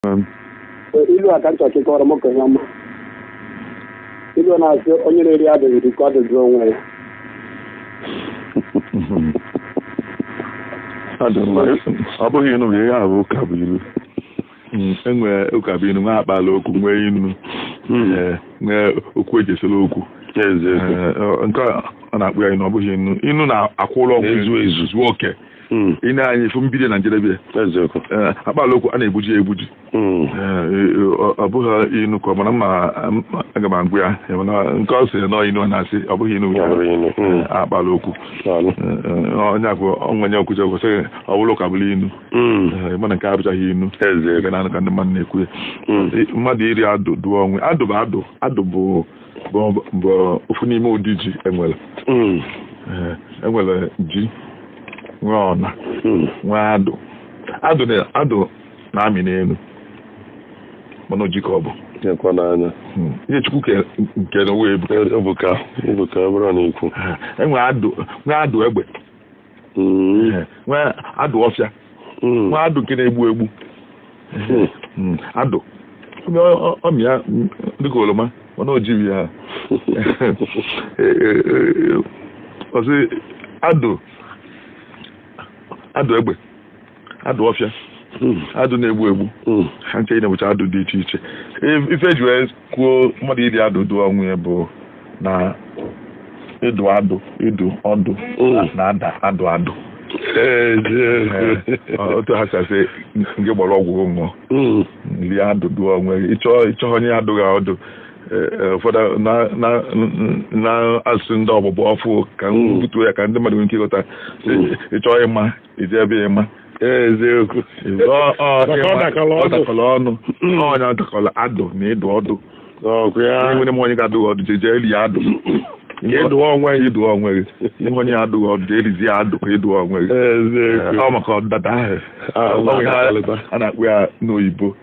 Amen. ilu a ka nchọ chịkọrọ m okenye ọma ilu na-asị onye na-eri adụ dị ka ọ dụziri onwe ya Ọ dị mma. ọ bụghị inu bụ ihe a bụ ụka bụ ilu Mm, e nwee ụka bụ ilu nwee akpala okwu nwee inu Mm. eh, nwee okwu ejesila okwu Eze, eze. Eh, ọ- nke a ọ na-akpọ ya inu ọ bụghị inu inu na-akwụlụ onwe ya zuo ezu. zuo oke hmm. i nee anya ị fụ mbido na njedebe eh, akpala okwu a na-egbuji egbuji hmm. eh, ọ bụghị inu ka mana mma aga m agwa ya nke ọ sịrị na inu na-asị ọ bụghị inu eh, akpala okwu onye akwụ ọnwa onye okwucha okwu sịghị ọ bụrụ ụka bụrụ inu mana nke a abụchaghị inu ga na-anụ ka ndị mmadụ na-ekwu ya mmadụ iri adụ dụọ onwe adụ bụ adụ adụ bụ bụ ofu n'ime ụdị ji e nwere hmm. e nwere eh, ji nwee ọna hmm. nwee adụ adụ na-amị n'elu mana ọ ji ka ọ bụ nyekwa n'anya hmm. ihe chukwu kere n'ụwa ebuka ebuka ebuka bụrụ na i kwuo e nwee adụ egbe nwee adụ ọfịa nwee adụ nke na-egbu egbu adụ ọ mịa dịka oroma mana o jighị ya ọsị adụ adụ egbe adụ ọfịa hmm. adụ na-egbu egbu hmm. ha ncha na-enwecha adụ dị iche iche e, ife e ji wee kwuo mmadụ ili adụ dụọ onwe ya bụ na ịdụ adụ ịdụ ọdụ hmm. na ada adụ adụ otu ha si asị nke gbara ọgwụ ṅụọ lie adụ dụọ onwe ịchọ ịchọ onye adụ gị ọdụ Eh, eh, ụfọdụ na-asụ ndị ọgbọ ọgbọ ọfụ ka m mm. butuo ya ka ndị mmadụ nwee ike ịghọta mm. ị chọọ ịma i jebe ịma eziokwu ọ dakọrọ ọnụ ọ nya dakọrọ adụ na ịdụ ọdụ nwere m onye ga-adụ gị ọdụ i je elie adụ ị dụọ onwe gị ị dụọ onwe gị ihe onye adụ gị ọdụ elizie adụ ị dụọ onwe gị ọ maka ọdada ahụ a na-akpọ ya n'oyibo